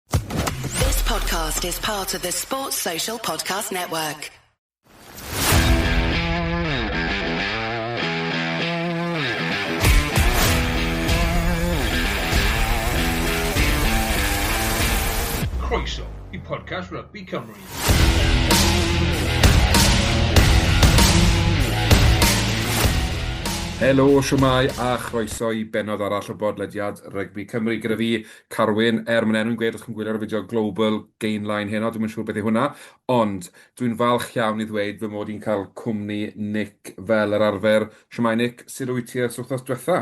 This podcast is part of the Sports Social Podcast Network. Croeso i podcast Rugby Cymru. Helo, siwmai a chroeso i benod arall o bodlediad Rygbi Cymru gyda fi, Carwyn, er mae'n enw'n gweud os chi'n gwylio'r fideo Global Gainline heno, dwi'm yn siŵr beth yw hwnna, ond dwi'n falch iawn i ddweud fy mod i'n cael cwmni Nick fel yr arfer. Shwmae Nick, sut wyt ti ers wythnos diwetha?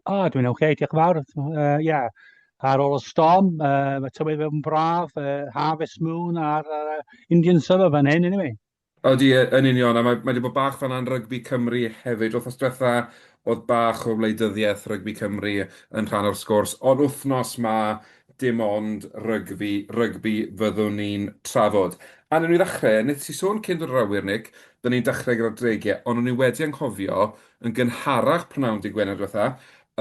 O, dwi'n ok, diolch yn fawr. Uh, ia, ar ôl y storm, uh, mae tywydd yn braf, uh, harvest moon a'r uh, Indian summer fan hyn, anyway. Odi, yy, yn union, a mae, mae 'di bod bach fan'na yn rygbi Cymru hefyd. Wythnos diwetha, oedd bach o wleidyddiaeth rygbi Cymru yn rhan o'r sgwrs, ond wythnos 'ma, dim ond rygbi, rygbi fyddwn ni'n trafod. A newn ni ddechrau, neu ti sôn cyn dod i'r awyr, Nick, 'da ni'n dechrau gyda'r dreigiau, ond o'n i wedi anghofio, yn gynharach p'nawn dydd Gwener diwetha,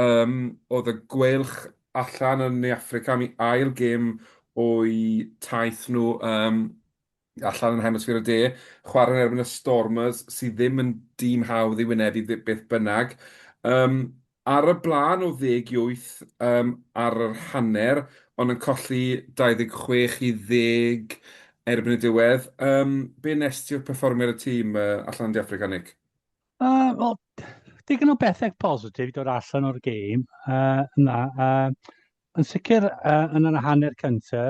yym, oedd y Gweilch allan yn Ne Affrica am 'u ail gêm o'u taith nhw, yym, allan yn Hemisffer y De, chwarae yn erbyn y Stormers, sydd ddim yn dîm hawdd i wynebu ddi- beth bynnag. Yym, ar y blaen o ddeg i wyth yym, ar yr hanner, ond yn colli 26 i ddeg erbyn y diwedd. Yym, be nes ti o'r perfformiad y tîm yy, allan yn De Affrica, Nick? Uh, Wel, digon o bethau positif i dod allan o'r gêm uh, yna. Uh, Yn sicr yy yn yr hanner cynta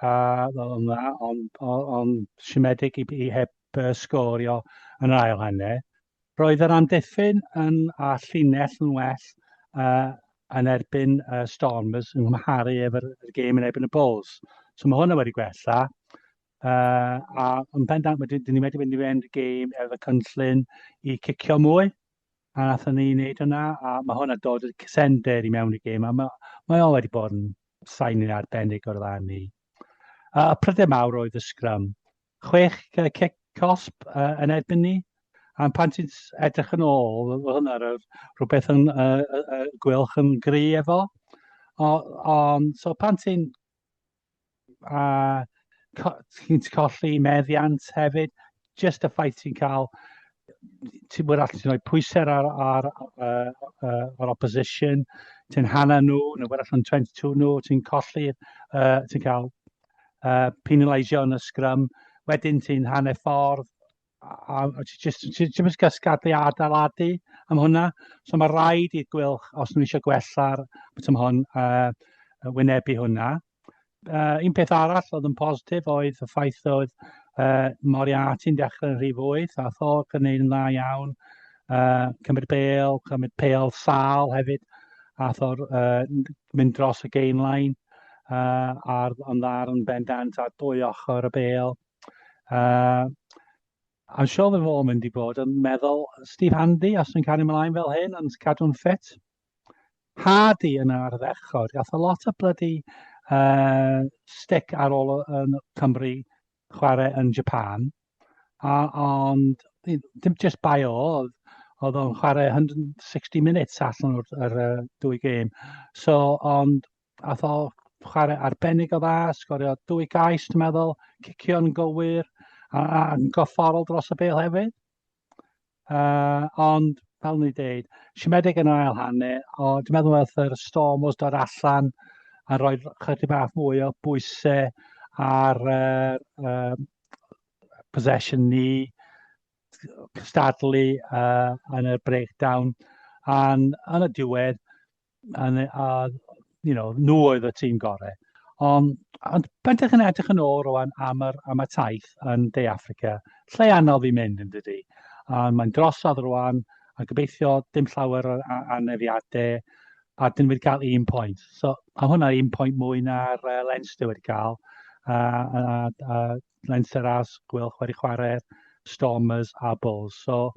a oedd o'n dda ond o- ond siomedig i i heb yy sgorio yn yr ail hanner. Roedd yr amddiffyn yn a llinell yn well yy yn erbyn y Stormers yn nghymharu efo'r y gêm yn erbyn y Bulls. So mae hwnna wedi gwella. Uh, a yn pendant, mae dyn ni wedi mynd i fynd y gêm efo cynllun i cicio mwy. A nathon ni neud hwnna, a ma' hwnna dod y cysender i mewn i gêm, a ma' mae o wedi bod yn sain arbennig o'r lan ni. A y pryder mawr oedd y sgrym. Chwech cic cosp uh, yn erbyn ni, a pan ti'n edrych yn ôl, oedd hwnna rhywbeth yn uh, uh, gwylch yn gry efo. Ond so pan ti'n a ti'n colli meddiant hefyd. Just y ffaith ti'n cael, ti'n bod allan ti'n rhoi pwysau ar, ar, ar, ar, ar opposition, ti'n hanna nhw, neu bod allan 22 nhw, ti'n colli, uh, ti'n cael uh, penalisio yn y sgrym, wedyn ti'n hanner ffordd, a, a ti jyst ti ddim yn cael sgadau adeiladu am hwnna. So mae rhaid i'r gwylch, os nhw eisiau gwella'r beth am hwn, uh, wynebu hwnna. Uh, un peth arall oedd yn positif oedd y ffaith oedd uh, Moriarty'n dechrau'n rhy fwyth, a Thorc yn neud yn dda iawn. Uh, cymryd bel, cymryd pel sal hefyd, a Thor uh, mynd dros y gain line uh, ar, ond ar yn bendant ar dwy ochr y bel. Uh, I'm sure we've all mynd i bod yn meddwl Steve Handy os yn cario ymlaen fel hyn yn cadw'n ffit. Hardy yn yr ddechod. Gath a lot o bloody uh, stick ar ôl yn Cymru chwarae yn Japan. A, ond dim just by o oedd oedd o'n chwarae 160 minutes allan o'r, o'r uh, dwy gêm. So, ond Ath o chwarae arbennig o dda, sgorio dwy gais, dwi'n meddwl, cicio'n gywir a, a gofforol dros y bel hefyd. Uh, ond, fel ni dweud, siomedig yn yr ail hannu, o, dwi'n meddwl wrth yr storm os dod allan a roi chydig bach mwy o bwysau ar uh, uh, possession ni, cystadlu uh, yn y breakdown, a yn y diwedd, yn, a, you know, nhw oedd y tîm gorau. Ond, ond bentach yn edrych yn ôl rwan am, yr, am y taith yn De Africa, lle anodd i mynd yn dydy. A mae'n drosodd rwan, a gobeithio dim llawer o anefiadau, a dyn wedi cael un pwynt. So, a hwnna un pwynt mwy na'r uh, Leinster wedi cael, a, a, a, a Leinsterras, Gweilch wedi chwarae, Stormers a Bulls. So,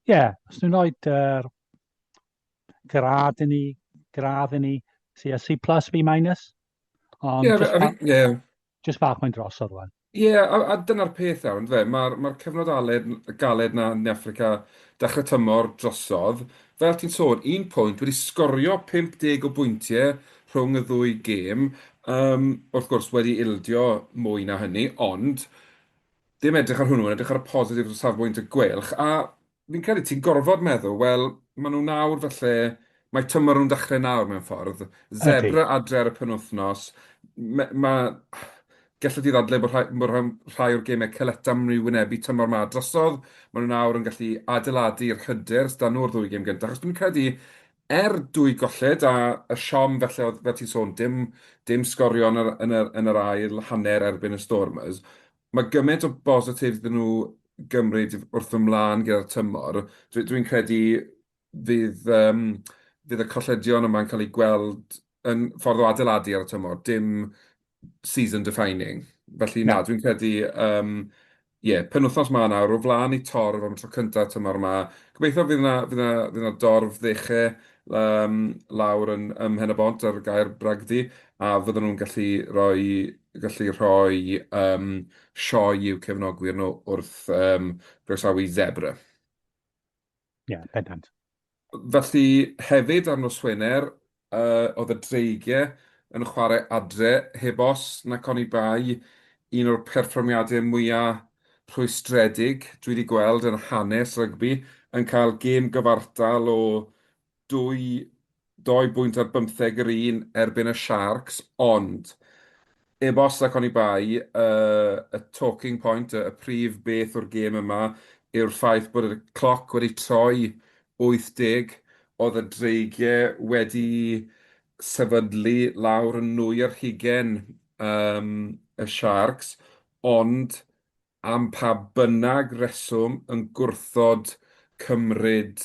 ie, yeah, os nhw'n rhoi yr gradd i ni, gradd i ni, see a C plus, B minus. Ond yeah, just, I mean, yeah. just bach mae'n dros o'r rwan. Ie, yeah, a, a dyna'r peth iawn, fe. Mae'r ma cyfnod aled, galed na yn Africa dechrau tymor drosodd. Fel ti'n sôn, un pwynt wedi sgorio 50 o bwyntiau rhwng y ddwy gêm, yym, wrth gwrs, wedi ildio mwy na hynny, ond ddim edrych ar hwnnw, yn edrych ar y positif o safbwynt y Gweilch, a fi'n credu ti'n gorfod meddwl, wel, maen nhw nawr falle, mae tymor nhw'n dechrau nawr mewn ffordd, Zebre adre ar y penwythnos, mae, ma, gellid i ddadlau bod rhai, bod rhai, rhai o'r gemau Caletta maen nhw'n wynebu tymor ma drosodd, maen nhw nawr yn gallu adeiladu i'r hyder sydd nhw'r ddwy gêm gyntaf, achos dwi'n credu Er dwy golled a y siom felly oedd fel ti'n sôn dim dim sgorio yn yr yn yr yn yr ail hanner erbyn y Stormers, mae gymaint o bositif 'da nhw gymryd wrth fy mlân gyda'r tymor. Dwi dwi'n credu fydd yym fydd y colledion yma'n cael eu gweld yn ffordd o adeiladu ar y tymor, dim season defining. Felly na, dwi'n credu, um, ie, penwthnos ma nawr, o flaen i torf am y tro cyntaf tymor yma. Gobeithio fydd yna, fydd yna, fydd yna dorf ddeche um, lawr yn, ym Mhen y Bont ar gair bragdi, a fydden nhw'n gallu rhoi, gallu rhoi um, sioe i'w cefnogwyr nhw wrth um, groesawu zebra. Ie, bendant. Felly, hefyd ar nos Wener, oedd y Dreigiau yn chwarae adre, heb os nac oni bai, un o'r perfformiadau mwya' rhwystredig dwi 'di gweld yn hanes rygbi, yn cael gêm gyfartal o Dwy doi bwynt ar bymtheg yr un erbyn y Sharks, ond ebost ac oni bai, y talking point, y prif beth o'r gêm yma yw'r ffaith bod y cloc wedi troi 80, oedd y dreigiau wedi sefydlu lawr yn nwy ar hugain y Sharks, ond am pa bynnag reswm yn gwrthod cymryd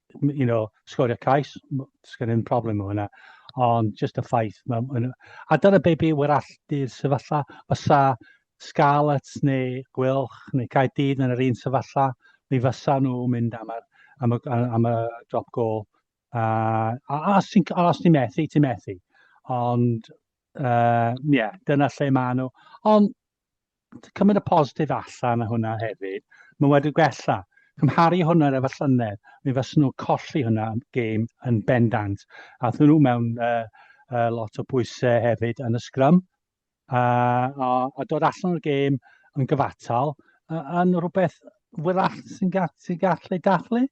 you know, sgorio cais, sgan i'n problem o hynna, ond just y ffaith. Ma, a dyna be be wyr alltu'r sefyllfa, fysa Scarlets neu Gwylch neu Caerdydd yn yr un sefyllfa, mi fysa nhw mynd am, ar, am, y, am y drop goal. Uh, a, a os ti'n ti methu, ti'n methu. Ond, ie, uh, yeah, dyna lle maen nhw. Ond, cymryd y positif allan o hwnna hefyd, mae wedi gwella. Cymharu hwnna efo llynedd, mi fysyn nhw colli hwnna gêm yn bendant. A thyn nhw mewn uh, uh, lot o bwysau hefyd yn y sgrym. Uh, a, a dod allan o'r gêm yn gyfatal, uh, yn rhywbeth wyrach sy'n ga sy gallu dathlu.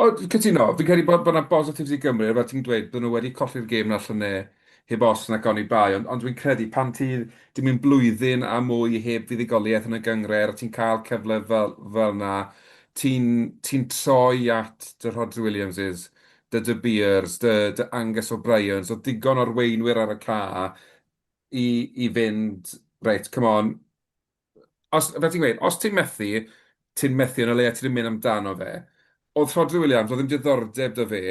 O, dwi'n cytuno. Fi'n credu bod bod 'na bositifs i Gymru, fel ti'n dweud, bod nhw wedi colli'r gêm na llynedd heb os nac oni bai, ond ond dwi'n credu pan ti 'di mynd blwyddyn a mwy heb fuddugoliaeth yn y gynghrair a ti'n cael cyfle fel fel 'na, ti'n ti'n troi at dy Rhodri Williamses, dy De Beers, dy dy Angus O'Briens, oedd digon o arweinwyr ar y cae i i fynd, reit, come on. Os, fel ti'n gweud, os ti'n methu, ti'n methu yn y leiaf ti'n mynd amdano fe. Oedd Rhodri Williams, oedd ddim diddordeb da fe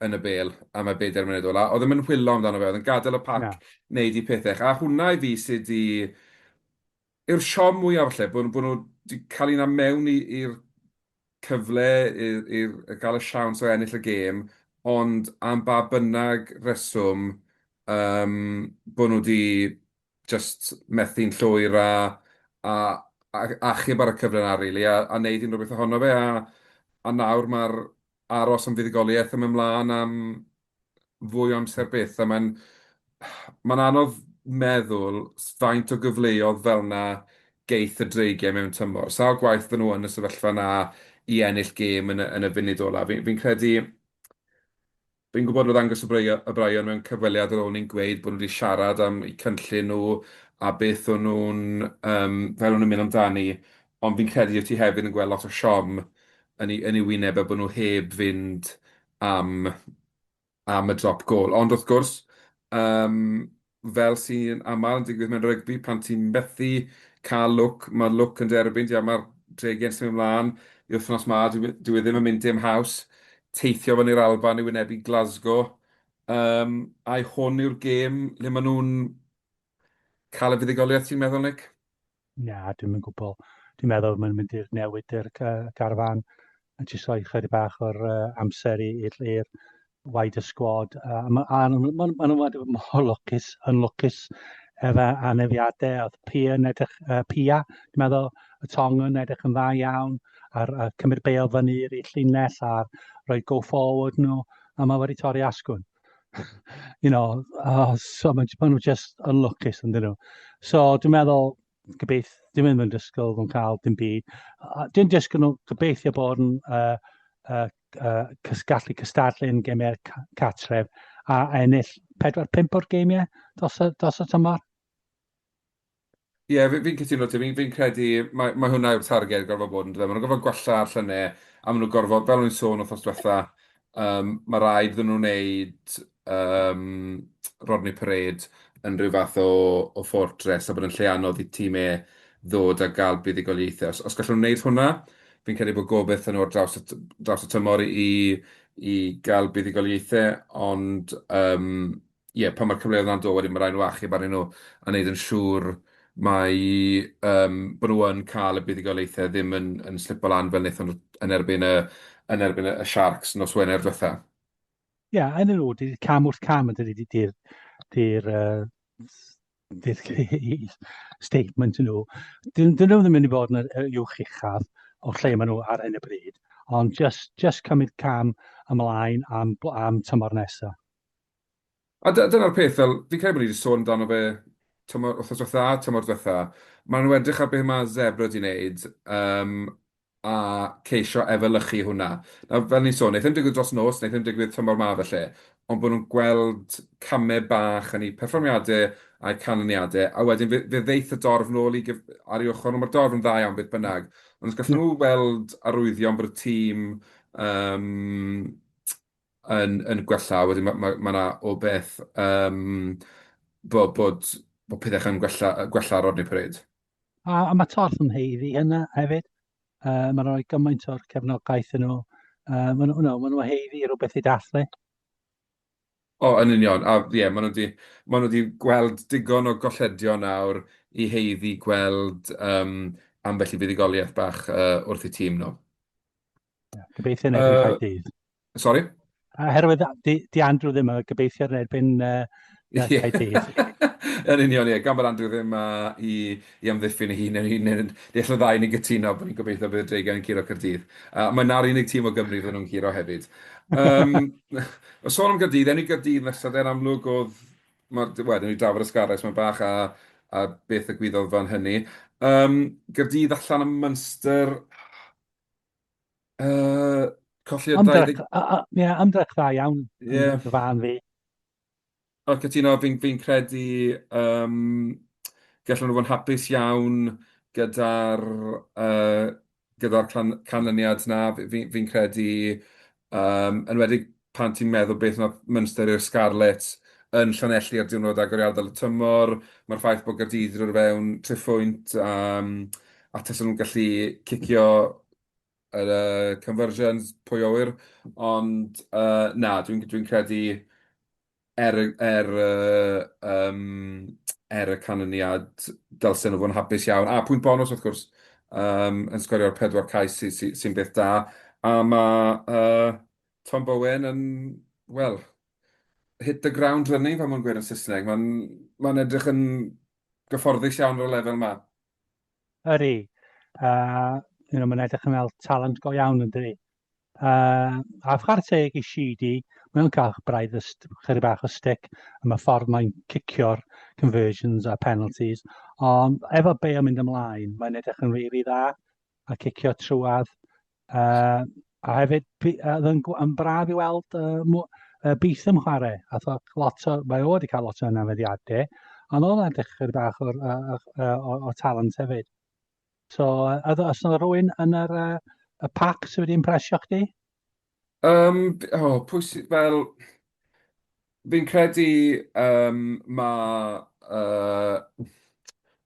yn y bel am y bedair munud ola. Oedd ddim yn hwyllo amdano fe, oedd yn gadael y pac wneud i pethau. A hwnna i fi sydd di... yw'r siom mwyaf falle, bod nhw wedi cael un am mewn i'r cyfle i i gael y siawns o ennill y gêm, ond am ba bynnag reswm yym bod nhw 'di jyst methu'n llwyr a a a achub ar y cyfle 'na rili a a wneud unrhyw beth ohono fe a a nawr ma'r aros am fuddugoliaeth yn mynd mlaen am fwy o amser byth, a mae'n... mae'n anodd meddwl s- faint o gyfleodd fel 'na geith y Dreigiau mewn tymor. Sawl gwaith fydden nhw yn y sefyllfa 'na i ennill gêm yn y yn y funud ola'? Fi fi'n credu... fi'n gwybod bod Angus O'Brei- O'Brien mewn cyfweliad ar ôl ni'n gweud bod nhw 'di siarad am eu cynllun nhw a beth o'n nhw'n yym fel o'n nhw'n mynd amdani, ond fi'n credu wyt ti hefyd yn gweld lot o siom yn ei yn ei wyneb e bod nhw heb fynd am y drop gôl. Ond wrth gwrs, fel sy'n aml yn digwydd mewn rygbi, pan ti'n methu cael lwc, mae'r lwc yn dy erbyn di a mae'r dregyn symud mlaen i wythnos 'ma. Dyw e ddim yn mynd dim haws, teithio fyny i'r Alban i wynebu Glasgow. Ai hwn yw'r gêm lle maen nhw'n cael y fuddugoliaeth, ti'n meddwl, Nick? Na, dwi'm yn gwbl. Dwi'n meddwl mae'n mynd i'r newid i'r ca- garfan a jyst rhoi chydig bach o'r uh, amser i- i'r i'r wide y sgwad. A a ma' a ma' nhw ma' nhw ma' nhw wedi bod mor lwcus yn lwcus efo anafiadau. Oedd Pia yn edrych yy Pia dwi'n meddwl y tong yn edrych yn dda iawn a'r yy cymryd bêl fyny i'r i'r llinell a'r rhoi go forward nhw a ma' wedi torri asgwrn. you know, uh, so mae'n ma nhw just unlwcus yn dyn nhw. So dwi'n meddwl, gobeith, dwi'n meddwl yn dysgol yn cael dim byd. Dwi'n dysgol nhw gobeithio bod yn uh, uh, uh, gallu cystadlu yn gemiau catref a ennill 4-5 o'r gemiau dos, dos y tymor. Ie, fi- fi'n cytuno 'da ti. Fi'n fi'n credu mai mai hwnna yw'r targed gorfod bod yndyfe. Maen nhw'n gorfod gwella'r llynau a maen nhw'n gorfod, fel o'n i'n sôn wythnos diwetha, yym, ma' raid iddyn nhw wneud yym Rodney Parade yn rhyw fath o o fortress a bod yn lle anodd i tîm E ddod a gael buddugoliaethau. Os os gallwn nhw wneud hwnna, fi'n credu bod gobeith 'da nhw ar draws y t- draws y tymor i i gael buddugoliaethau ond yym... ie, pan mae'r cyfleoedd yna'n dod wedyn mae'n rhaid nhw achub arnyn nhw a wneud yn siŵr mai yym bod nhw yn cael y buddugoliaethau ddim yn yn slipo lan fel wnaethon nhw yn erbyn y yn erbyn y y Sharks nos Wener diwetha. Ie, yn yr ôl, cam wrth cam yn dydy, dydy'r dydy'r yy statement nhw. Dyn dyn nhw ddim yn mynd i fod yn yr uwch uchaf o lle maen nhw ar hyn o bryd, ond jyst jyst cymryd cam ymlaen am am tymor nesa. A dy- dyna'r peth, fel, fi'n credu bod ni 'di sôn amdano fe tymor, wythnos dwetha a tymor dwetha, maen nhw edrych ar be ma' Zebre 'di wneud, yym, a ceisio efelychu hwnna. Nawr, fel ni'n sôn, neith hyn digwydd dros nos, neith hyn digwydd tymor 'ma falle, ond bod nhw'n gweld camau bach yn eu perfformiadau a'u canlyniadau, a wedyn fe fe ddeith y dorf nôl i gyf- ar ei ochr, ond ma'r dorf yn dda iawn beth bynnag, ond os gallen nhw weld arwyddion bod y tîm, yym, yn yn gwella, wedyn ma' ma' ma' 'na o beth yym bo' bod bo' pethe chan gwella yy gwella ar ôl ni pryd. A a ma' torth yn haeddu hynna hefyd. Yy ma' rhoi gymaint o'r cefnogaeth yn nhw. Yy ma' nhw no, ma' nhw haeddu rhywbeth i dathlu. O yn union a ie ma' nhw di ma' nhw di gweld digon o golledion nawr i haeddu gweld yym ambell i fuddugoliaeth bach yy wrth eu tîm nhw. Gobeithio yn erbyn cael dydd. Sorry? Herwydd, di, di Andrew ddim yn gobeithio yn erbyn uh, cael dydd. yn union, ie. Gan bod Andrew ddim uh, i, i amddiffyn ei hun, yn un yn deall y ddau ni'n gytuno bod ni'n gobeithio bydd y dreigiau yn curo Cyrdydd. Uh, mae na'r unig tîm o Gymru fydden nhw'n curo hefyd. Um, o sôn am Gyrdydd, enw Gyrdydd nesaf, dde'n amlwg oedd, mae'r, wedyn ni drafod ysgarres, mae'n bach a, a beth y gwyddodd fan hynny. Um, Gyrdydd allan am Munster, Uh, colli'r 20... Ie, ymdrech dda iawn, yeah. yn fy fan fi. O'r cytuno, fi'n fi credu um, gallwn nhw fod yn hapus iawn gyda'r uh, gyda'r canlyniad na, fi'n fi, fi credu, um, enwedig pan ti'n meddwl beth wnaeth Munster i'r Scarlets yn Llanelli ar diwrnod agoriadol y tymor, mae'r ffaith bod Gaerdydd wedi dod i fewn tri phwynt a a tasen nhw'n gallu cicio yr uh, conversions, pwy o ŵyr, ond uh, na, dwi'n dwi credu Er y er y yym er y canlyniad dylsen nhw fod yn hapus iawn, a pwynt bonws wrth gwrs yym yn sgorio'r pedwar cais sy sy sy'n beth da, a ma' yy Tom Bowen yn wel hit the ground running fel mae'n gweud yn Saesneg, mae'n mae'n edrych yn gyfforddus iawn ar y lefel ma. Ydi, a you know, mae'n edrych yn fel talent go iawn yn dydi? Uh, a chwarae teg i Sheedy, mae'n cael braidd chyri bach o stick am y ffordd mae'n cicio'r conversions a penalties, ond efo be yn mynd ymlaen, mae'n edrych yn rili really dda a cicio trwad. Uh, a hefyd, oedd yn, yn braf i weld uh, uh, byth yn chwarae, a thog lot o, mae o wedi cael lot o anafeddiadau, ond oedd edrych chyri bach o'r, uh, uh, o, o talent hefyd. So, a os yna rhywun yn yr, uh, y pac sydd wedi impresio chdi? Um, oh, pwysig, fel... Fi'n credu um, mae... Uh,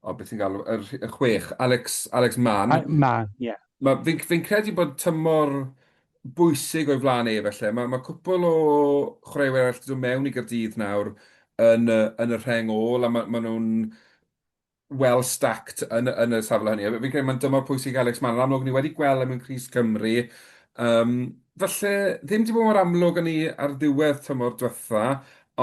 o, beth i'n galw, yr, y chwech, Alex, Alex Mann. A, Mann, ie. Yeah. Mae, fi'n fi credu bod tymor bwysig o'i flaen ei felly. Mae, mae cwpl o chwaraewyr arall wedi dod mewn i Gyrdydd nawr yn, yn y rheng ôl, a mae, mae nhw'n well stacked yn y yn y safle hynny a fi'n credu mae'n dymor pwysig Alex Mann yn amlwg ni wedi gweld e mewn crys Cymru yym falle ddim 'di bod mor amlwg â ni ar ddiwedd tymor dwetha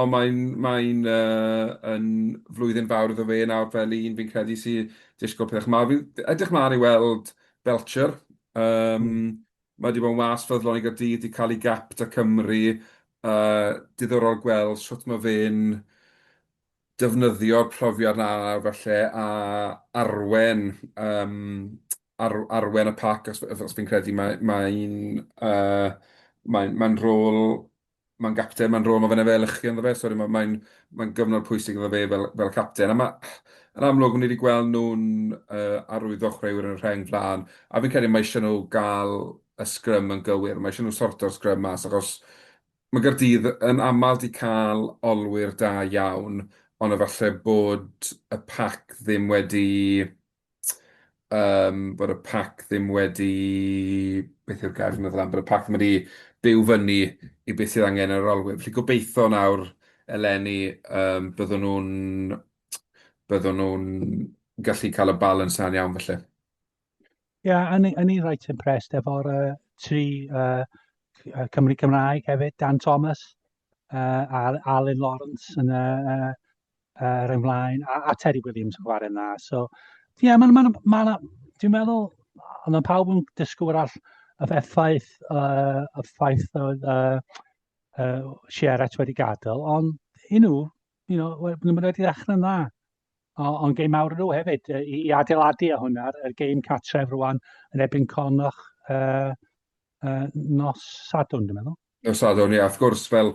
ond mae'n mae'n yy yn flwyddyn fawr iddo fe nawr fel un fi'n credu sy disgwl pethach mawr fi'n edrych mlan i weld Belcher yym mae 'di bod yn wâs ffyddlon i Gaerdydd 'di cael ei gapt â Cymru yy diddorol gweld shwt ma' fe'n defnyddio'r profiad 'na falle a arwen yym ar- arwen y pac os f- os fi'n credu mae mae'n yy mae'n mae'n rôl mae'n gapten mae'n rôl ma' fe'n efelychu ynddo fe sori ma' mae'n mae'n gyfnod pwysig iddo fe fel fel capten a ma' yn amlwg ni 'di gweld nhw'n yy arwyddo chwaraewyr yn y rheng flan a fi'n credu mae isie nhw ga'l y sgrym yn gywir ma' isie nhw sorto'r sgrym mas achos Mae Caerdydd yn aml 'di cael olwyr da iawn, ond efalle bod y pac ddim wedi yym bod y pac ddim wedi beth yw'r gair dwi'n meddwl am bod y pac ddim wedi byw fyny i beth sydd angen yr olwyr. Felly gobeitho nawr eleni yym byddwn nhw'n byddwn nhw'n gallu cael y balans 'na'n iawn felly. Ie, o'n i o'n i reit impressed efo'r yy tri yy c- yy Cymry Cymraeg hefyd, Dan Thomas yy a Alun Lawrence yn y yy yy yr un flaen a a Teri Williams yn chwarae'n dda. So ie, ma' 'na ma' 'na ma' 'na dwi'n meddwl a ma' pawb yn dysgu wrach y effaith yy y ffaith oedd yy yy Sierra wedi gadael ond i nhw, you know, we- maen nhw wedi dechrau'n dda. Ond gêm mawr nhw hefyd yy, i, i adeiladu a hwnna, y gêm catref rwan yn ebyn Cornoch uh, uh, nos Sadwn, dwi'n meddwl. Nos Sadwn, ie, wrth gwrs, fel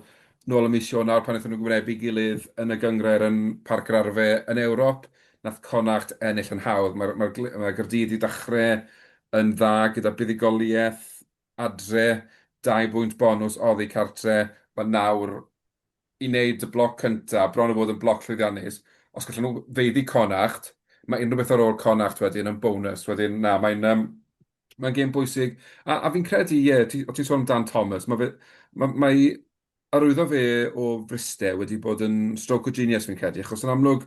nôl y mis Ionawr pan wnaethon nhw gymrebu gilydd yn y gyngrair yn Parc yr Arfe yn Ewrop, nath Connacht ennill yn hawdd. Mae'r mae mae Gyrdydd i ddechrau yn dda gyda buddugoliaeth adre, dau bwynt bonws oddi cartre, ond nawr i wneud y bloc cyntaf, bron a bod yn bloc llwyddiannus, os gallen nhw feiddi Connacht, mae unrhyw beth ar ôl Connacht wedyn yn bonws, wedyn na, mae'n yym mae'n gêm bwysig, a a fi'n credu, ie, ti o ti'n sôn amdan Thomas, mae fe ma' mae arwyddo fe o Fryste wedi bod yn stroke o genius fi'n credu, achos yn amlwg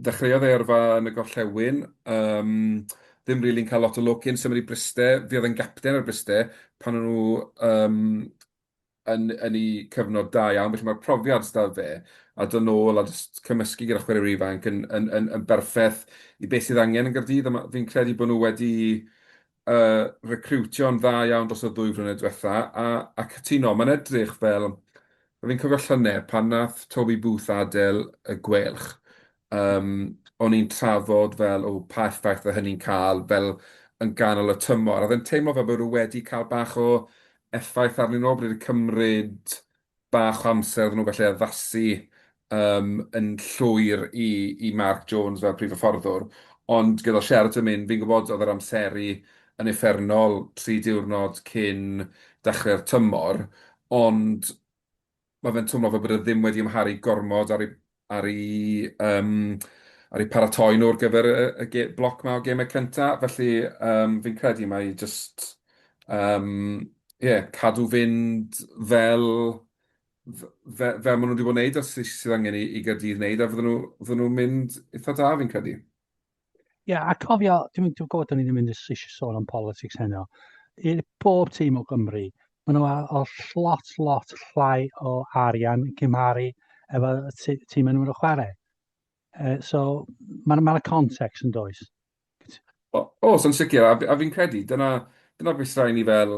ddechreuodd e yrfa yn y gorllewin, yym ddim rili'n cael lot o lwc cyn symud i Bryste, fe oedd e'n gapten ar Bryste pan o'n nhw yym yn yn eu cyfnod da iawn, felly ma'r profiad sy 'da fe, a dod nôl a jyst cymysgu gyda chwaraewyr ifanc yn yn yn yn berffeth i be sydd angen yn Gaerdydd, a ma- fi'n credu bod nhw wedi recriwtio'n dda iawn dros y ddwy flynedd diwetha, a, a cytuno, mae'n edrych fel, a fi'n cofio llynedd pan nath Toby Booth adel y Gwelch, um, o'n i'n trafod fel, o, pa effaith fe hynny'n cael fel yn ganol y tymor, a fe'n teimlo fel bod nhw wedi cael bach o effaith arnyn nhw, bod wedi cymryd bach o amser iddyn nhw falle addasu yym yn llwyr i i Mark Jones fel prif hyfforddwr, ond gyda Sheridan mynd, fi'n gwybod oedd yr amseru yn uffernol tri diwrnod cyn dechrau'r tymor, ond ma' fe'n twmlo fel bod e ddim wedi amharu gormod ar ei ar eu paratoi nhw ar gyfer y bloc 'ma o gemau cynta. Felly, fi'n credu mai jyst, ie, cadw fynd fel maen nhw 'di bod yn wneud a sydd angen i Gaerdydd wneud a fydden nhw'n mynd eitha da fi'n credu. Ie, a cofio, dwi'n dwi gwybod o'n i'n mynd eisiau sôn am politics heno. I bob tîm o Gymru, maen nhw ar o lot, lot llai o arian yn cymharu efo y tî- tîm maen nhw'n chwarae. Uh, so, mae'n ma 'na context yn does. O, o, so'n sicr, a, fi- a fi'n credu, dyna, dyna beth sy'n rhaid ni fel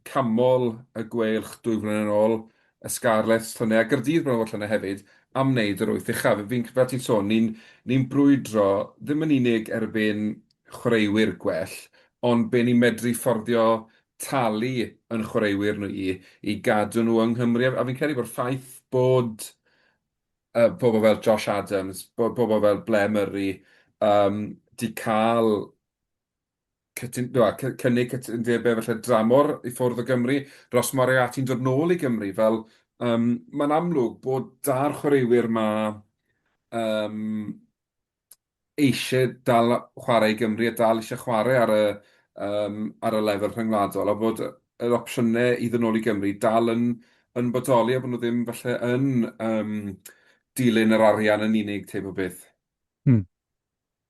canmol y Gweilch dwy flynedd yn ôl, y Scarlets, llynedd, a Gaerdydd blynedd o'r llynedd hefyd, am wneud yr wyth uchaf. Fi'n, fel ti'n sôn, ni'n ni'n brwydro ddim yn unig erbyn chwaraewyr gwell, ond be' ni'n medru fforddio talu yn chwaraewyr nhw i i gadw nhw yng Nghymru, a a fi'n credu bo'r ffaith bod yy pobl fel Josh Adams, bo- bobl fel Blair Murray yym 'di ca'l cytun, do, cy, cynnig cytundebau falle dramor i ffwrdd o Gymru, Ros Moriarty'n dod nôl i Gymru, fel um, mae'n amlwg bod da'r chwaraewyr yma um, eisiau dal chwarae i Gymru a dal eisiau chwarae ar y, um, ar y lefel rhyngwladol, a bod yr opsiynau i ddod nôl i Gymru dal yn, yn bodoli a bod nhw ddim falle yn um, dilyn yr arian yn unig teip o beth. Hmm.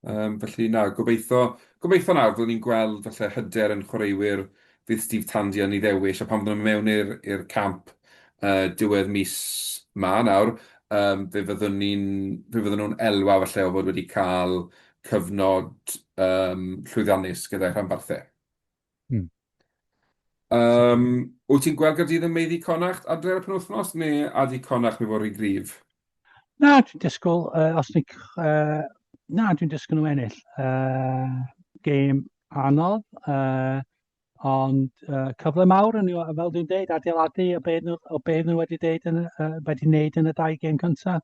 Yym, felly na, gobeitho, gobeitho nawr fyddwn ni'n gweld falle hyder yn chwaraewyr fydd Steve Tandy yn ei ddewis, a pan fyddwn nhw'n mewn i'r i'r camp uh, diwedd mis ma nawr, um, fe fyddwn ni'n fe fyddwn nhw'n elwa falle o fod wedi cael cyfnod um, llwyddiannus gyda'i rhanbarthau. Hmm. Um, wyt ti'n gweld gyda yn meiddi Connacht adre ar y penwthnos, neu a di Connacht mi fod rhy grif? Na, dwi'n disgwyl, uh, os ni, uh, na, dwi'n disgwyl nhw ennill. Uh, game anodd, uh, ond uh, cyfle mawr yn fel dwi'n dweud, adeiladu o beth nhw, o beth nhw wedi, deud yn, uh, wedi wneud yn y dau game cyntaf.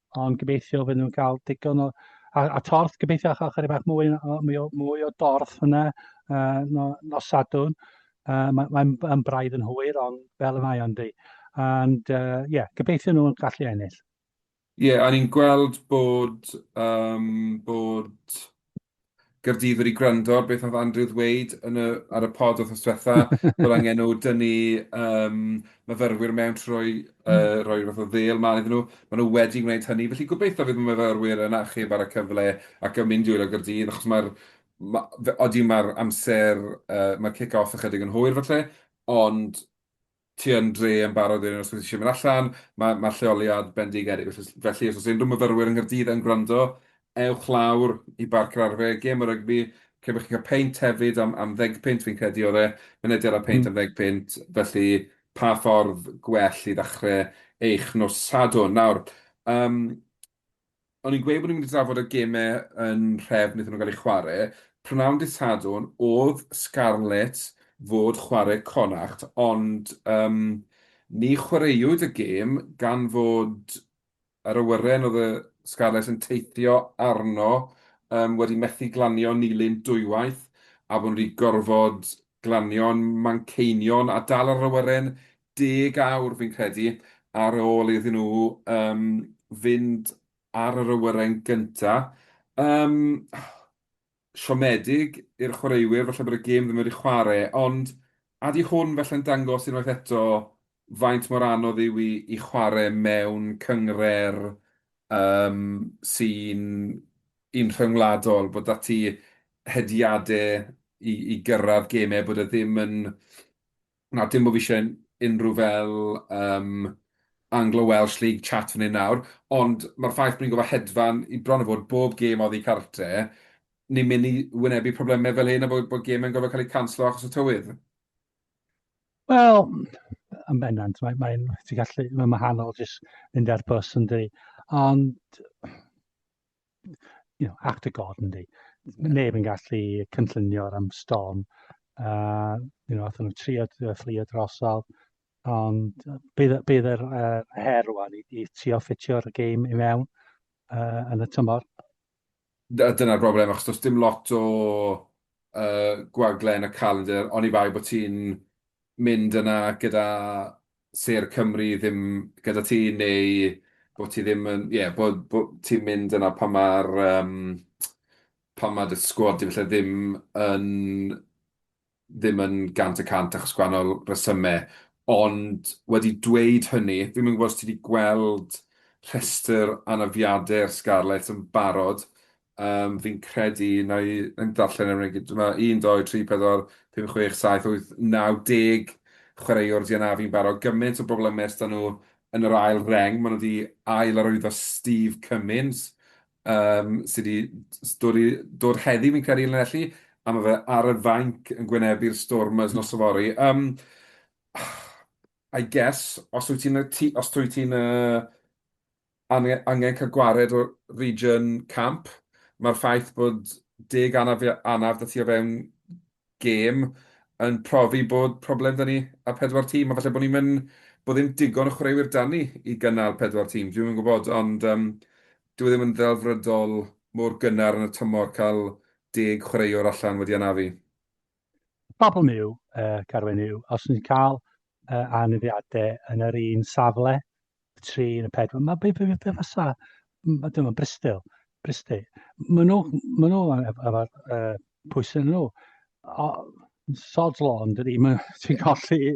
Ond gobeithio fydden nhw'n cael digon o... A, a torth, gobeithio achos chydig bach mwy, o, mwy, o, mwy o dorth yna uh, no, nos sadwn. Uh, Mae'n mae, mae braidd yn hwyr, ond fel y mae o'n di. And, ie, uh, yeah, gobeithio nhw'n gallu ennill. Ie, yeah, a ni'n gweld bod, um, bod Gaerdydd wedi gwrando ar beth oedd Andrew ddweud yn y, ar y pod oedd diwetha, bod angen nhw dynnu um, myfyrwyr mewn trwy uh, roi rhywbeth o ddel mlaen iddyn nhw. Maen nhw wedi gwneud hynny, felly gobeithio fydd y myfyrwyr yn achub ar y cyfle ac yn mynd i wylio Gaerdydd, achos mae'r ma, oeddi mae'r amser, uh, mae'r kick-off ychydig yn hwyr falle, ond ti yn dre yn barod wedyn os wyt ti isie mynd allan, ma' ma'r lleoliad bendigedig felly os felly os o's unrhyw myfyrwyr yng Nghaerdydd yn gwrando, ewch lawr i Barc yr Arfe, gêm o rygbi, lle bo' chi'n ca'l peint hefyd am am ddeg punt fi'n credu o'dd e, mynediad a peint am ddeg punt, felly pa ffordd gwell i ddachre eich nos Sadwrn? Nawr, yym, o'n i'n gweud bod ni'n mynd i drafod y gemau yn nhrefn iddyn nhw gael eu chwarae. Prynhawn dydd Sadwrn oedd Scarlets fod chwarae Connacht ond yym ni chwaraewyd y gêm gan fod yr awyren oedd y Scarlets yn teithio arno yym wedi methu glanio Nilyn dwywaith a bod nhw wedi gorfod glanio'n Manceinion a dal yr awyren deg awr fi'n credu ar ôl iddyn nhw yym fynd ar yr awyren gynta'. Yym siomedig i'r chwaraewyr falle bod y gêm ddim wedi chware' ond a 'di hwn falle'n dangos unwaith eto faint mor anodd yw i i chware' mewn cyngre'r yym sy'n un rhyngwladol bod 'da ti hediade i i gyrradd geme bod e ddim yn Na, dim bod fi isie unrhyw fel yym Anglo-Welsh League chat fan hyn nawr, ond ma'r ffaith bo' ni'n gorfod hedfan i bron a bod bob gêm oddi cartre, ni'n myn' i wynebu probleme fel hyn a bo' bo' geme'n gorfod ca'l eu canslo achos y tywydd? Wel, yn bendant, mae mae'n ti'n gallu mae'n wahanol jyst mynd ar bws yndydi? Ond you know, act of God yndi. Neb yn gallu cynllunio ar am storm. Uh, you know, athyn nhw trio fflio drosol. Ond bydd, bydd yr uh, her rwan i, i trio ffitio'r gêm i mewn uh, yn y tymor. Dyna'r broblem, achos does dim lot o uh, gwagle yn y calendar, ond i bai bod ti'n mynd yna gyda Sêr Cymru ddim gyda ti neu bod ti ddim yn... ie, bod bod ti'n mynd yna pan ma'r yym pan ma' dy sgwad di falle ddim yn ddim yn gant y cant achos gwahanol resyme. Ond wedi dweud hynny, fi'm yn gwybod os ti di gweld rhestr anafiadau'r Scarlets yn barod, Yym, fi'n credu, na i ddarllen efo'n gyd. Dyma 1, 2, 3, 4, 5, 6, 7, 8, 9, 10 chwaraewr di anafu'n barod. Gymaint o bobl ymys da nhw yn yr ail reng. Maen nhw wedi ail arwyddo Steve Cummins, um, sydd wedi dod, i, dod heddi fi'n credu Llanelli, a mae fe ar y fainc yn gwynebu'r Stormers nos o fori. Um, I guess, os wyt ti'n os wyt ti'n uh, angen, angen cael gwared o region camp. Mae'r ffaith bod deg anaf, anaf da ti o fewn gêm yn profi bod problem da ni a pedwar tîm, a falle bod ni'n mynd bod ddim digon o chwaraewyr da ni i gynnal pedwar tîm, dwi'n yn gwybod, ond um, dwi e ddim yn ddelfrydol mor gynnar yn y tymor cael deg chwaraewr allan wedi anafu. Y problem yw, uh, Carwen, yw, os ni'n cael uh, aneddiadau yn yr un safle, y tri yn y pedwar, mae beth beth beth fysa, dyma Bristol, Bristol, maen nhw, maen nhw efo'r uh, pwysau yn nhw. O, sod's law, yn dydy, maen ti'n colli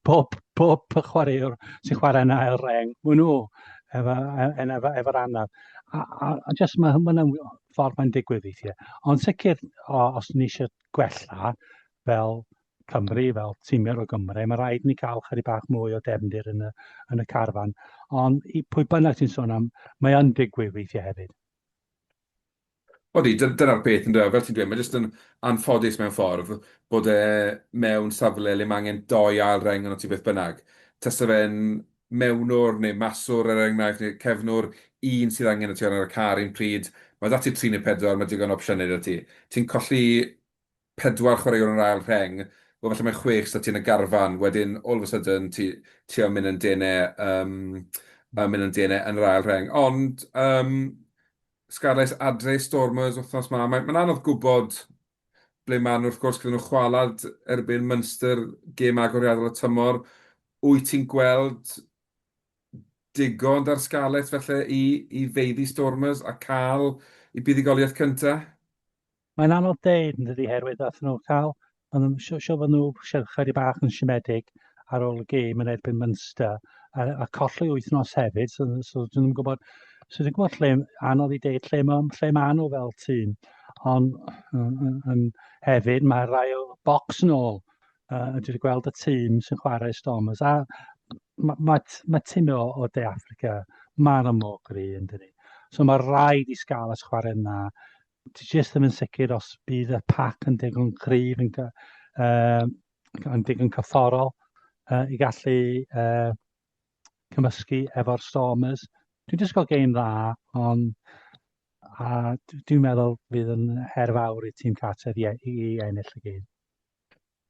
pob, pob chwaraewr sy'n chwarae yna ail reng, maen nhw efo'r efo, anaf. A, a, a jyst mae hynny'n ffordd mae'n digwydd weithiau. Ond sicr, os ni eisiau gwella fel Cymru, fel tîmiau o Gymru, mae rhaid ni cael chyri bach mwy o defndir yn y, yn y carfan. Ond i pwy bynnag sy'n sôn am, mae yn digwydd weithiau hefyd. Odi, dyna'r peth yn dweud, fel ti'n dweud, mae jyst yn anffodus mewn ffordd bod e mewn safle le mae angen doi ail reng yn o ti beth bynnag. Tasa fe'n mewnwr neu maswr er enghraifft, neu cefnwr, un sydd angen y ti ar y car un pryd, mae 'da ti tri neu pedwar, mae digon o opsiynau 'da ti. Ti'n colli pedwar chwaraewr yn yr ail rheng, wel falle mae chwech 'da ti yn y garfan, wedyn all of a sudden ti ti am mynd yn dene yym am mynd yn dene yn yr ail rheng. Ond yym Scarlets adre i Stormers wythnos 'ma, mae'n anodd gwybod ble maen nhw wrth gwrs gyda nhw chwalad erbyn Munster, gêm agoriadol y tymor. Wyt ti'n gweld digon da'r Scarlets felly i, i feiddi Stormers a cael i buddugoliaeth cyntaf? Mae'n anodd deud yn dydi herwydd ath nhw cael, ond siw fod nhw siarad chyri bach yn siomedig, ar ôl y gêm yn erbyn Munster a, a colli wythnos hefyd, so, so dyn nhw'n gwybod, so dwi'n gwybod lle, anodd i deud lle mae, lle mae nhw fel tîm, ond um, hefyd mae rai o bocs yn ôl, uh, dwi wedi gweld y tîm sy'n chwarae Stormers, a mae ma, ma tîm o, o De Africa, mae'n amlwg gri yn dyn ni. So mae rhaid i Scarlets chwarae yna, ti jyst ddim yn sicr os bydd y pac yn digon cryf yn, uh, yn digon cyfforol uh, i gallu uh, cymysgu efo'r Stormers. Dwi'n disgwyl geim dda, ond a dwi'n meddwl fydd yn her fawr i tîm Carter i, i, i ennill y gêm.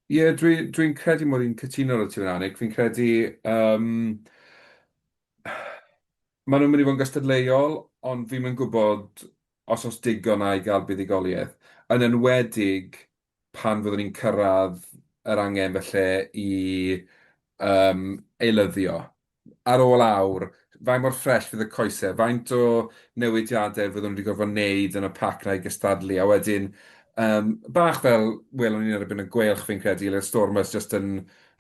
Ie, yeah, dwi'n dwi, credu mod i'n cytuno ar y ti'n annig. Fi'n credu... Um, maen nhw'n mynd i fod yn gystadleuol, ond fi'n mynd gwybod os os digon a'i gael buddigoliaeth. Yn enwedig pan fyddwn ni'n cyrraedd yr angen falle i yym eilyddio, ar ôl awr, faint mor ffresh fydd y coesau, faint o newidiadau fyddwn nhw wedi gorfod wneud yn y pac 'na i gystadlu, a wedyn yym bach fel welwn ni erbyn y Gweilch fi'n credu, le oedd Stormers jyst yn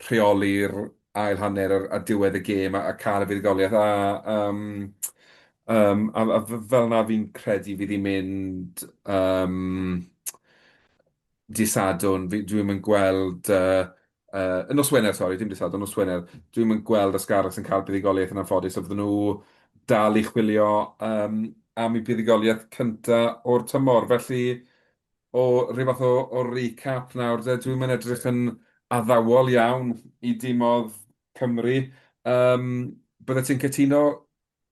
rheoli'r ail hanner ar ar diwedd y gêm a a ca'l y fuddugoliaeth a yym yym a a f- fel 'na fi'n credu fydd hi'n mynd yym dydd Sadwrn fi dwi'm yn gweld yy yy y nos Wener sori dim dydd Sadwrn nos Wener dwi'm yn gweld Ysgarus yn cael buddugoliaeth yn anffodus a fydden nhw dal i chwilio yym am eu buddugoliaeth cynta o'r tymor felly o ryw fath o o recap nawr de. Dwi'm yn edrych yn addawol iawn i dimodd Cymru. Yym, byddet ti'n cytuno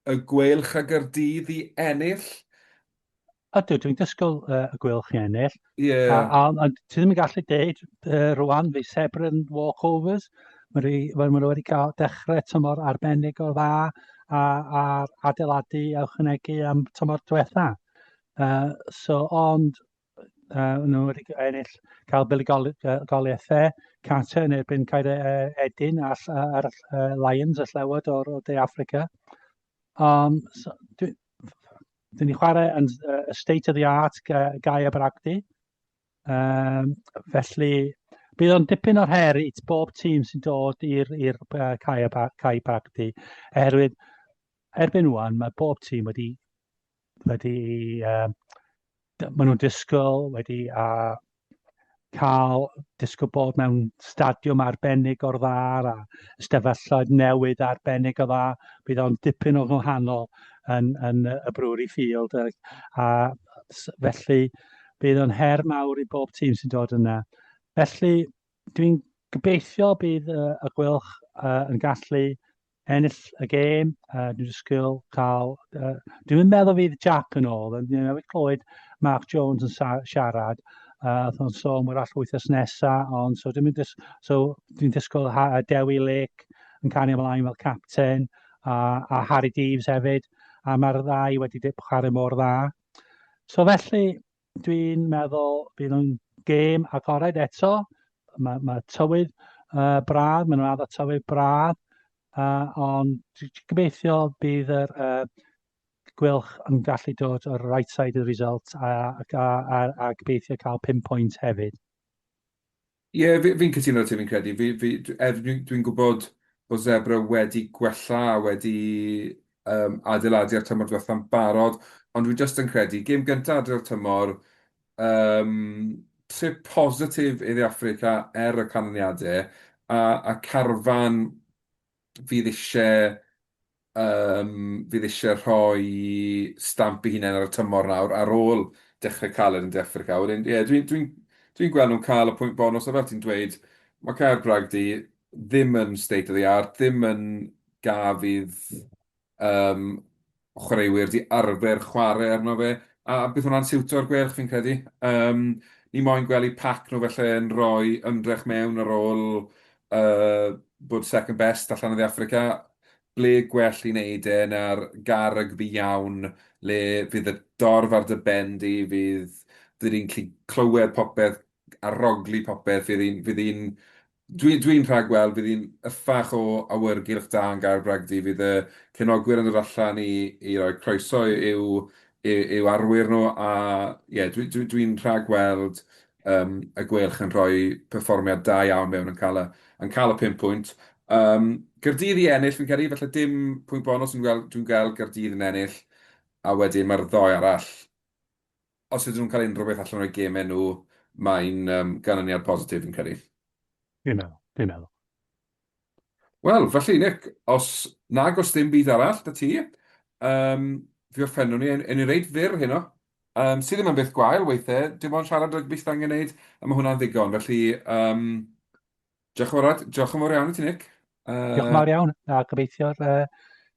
y Gweilch a Gaerdydd i ennill? Ydw, dwi'n disgwyl uh, y Gweilch i ennill. Ie. A, a, a ti ddim yn gallu deud uh, rwan fi sebr yn walkovers. Mae nhw wedi cael dechrau tymor arbennig o dda a, a adeiladu a ychwanegu am tymor diwetha. Yy so ond yy nhw wedi g- ennill cael buddugol- yy goliaethau Qatar yn erbyn Caer yy Edin a ll- yy a'r ll- yy Lions y llewod o'r o De Affrica. Yym so dwi dwi 'di chwarae yn s- yy state of the art ga- Gaea Bragdy. Yym felly bydd o'n dipyn o'r her i t- bob tîm sy'n dod i'r i'r yy Caea Ba- Cae Bragdy oherwydd erbyn ŵan mae bob tîm wedi wedi uh, maen nhw'n disgwyl wedi a uh, cael disgwyl bod mewn stadiwm arbennig o'r dda a ystafelloedd newydd arbennig o dda. Bydd o'n dipyn o gwahanol yn, yn y Brewery Field a, a felly bydd o'n her mawr i bob tîm sy'n dod yna. Felly dwi'n gobeithio bydd uh, y gwylch uh, yn gallu ennill y gêm, uh, dwi'n disgwyl cael... Uh, dwi'n meddwl fydd Jack yn ôl, ond dwi'n meddwl clywed Mark Jones yn siarad, uh, oedd o'n sôn bod all wythnos nesaf, ond so dwi'n dis, so, dwi disgwyl ha, uh, Dewi Lake yn cario ymlaen fel capten, a, a Harry Deves hefyd, a mae'r ddau wedi chwarae mor dda. So felly, Dwi'n meddwl bydd o'n gêm agored eto. Mae, mae tywydd uh, braf, mae'n rhaid o tywydd braf, uh, ond gobeithio bydd yr uh, gwylch yn gallu dod o'r right side of the result a, a, a, a gobeithio cael 5 pwynt hefyd. Ie, fi- fi'n cytuno 'da ti, fi'n credu. Fi- fi- dw- er dwi dwi'n gwybod bod Zebre wedi gwella a wedi yym, adeiladu ar tymor diwetha'n barod, ond dwi jyst yn credu, gêm gynta adre'r tymor, yym, trip positif i dde Affrica er y canlyniadau, a, a carfan fydd isie yym fydd isie rhoi stamp 'i hunain ar y tymor nawr ar ôl dechre caled yn De Affrica. Wedyn ie dwi dwi'n dwi'n gweld nhw'n ca'l y pwynt bonws a fel ti'n dweud ma' cau'r Bragdy ddim yn state of the art ddim yn gaf fydd yym, chwaraewyr 'di arfer chware arno fe, a bydd hwnna'n siwto'r Gweilch fi'n credu. Yym, ni moyn gwely pac nhw falle yn rhoi ymdrech mewn ar ôl yy bod second best allan o dde Affrica. Ble gwell i wneud e na'r gar rygbi iawn le fydd y dorf ar dy ben di, fydd... 'dyn ni'n gallu clywed popeth a rhaglu popeth, fydd hi'n fydd hi'n Dwi, dwi'n rhagweld bydd hi'n yffach o awyrgylch da yn Gaer Bragdy. Fydd y cefnogwyr yn dod allan i, i roi croeso i'w, i'w, i'w arwyr nhw a ie, dwi, dwi, dwi'n rhagweld um, y Gwelch yn rhoi perfformiad da iawn mewn yn cael y, yn cael y pum pwynt. Um, Gyrdydd i ennill, fi'n credu, falle dim pwynt bonus, dwi'n gweld, dwi'n gweld Gyrdydd yn ennill, a wedyn mae'r ddoe arall Os ydyn nhw'n cael unrhyw beth allan o'u gemau nhw, mae'n um, ganlyniad positif fi'n credu. Fi'n meddwl, fi'n meddwl. Wel, felly, Nick, os nag os dim byd arall, da ti, um, fi o'r ffenw ni, yn ei reid fyr heno, um, sydd ddim yn beth gwael weithiau, dim ond siarad rygbi sydd angen gwneud, a mae hwnna'n ddigon. Felly, um, Diolch yn fawr Ed, diolch yn fawr iawn i ti Nick. Uh... Diolch yn fawr iawn, a gobeithio uh,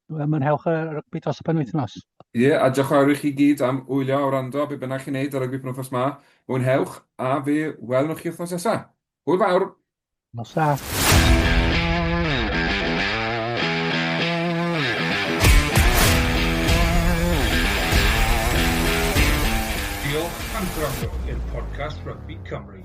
mwynhewch y rygbi dros y penwythnos. Ie, yeah, a diolch yn fawr i chi gyd am wylio a wrando, be bynnag chi'n neud ar rygbi penwythnos ma, mwynhewch, a fe welwn chi wythnos nesaf. Hwyl fawr! Nos da. Rugby Cymru.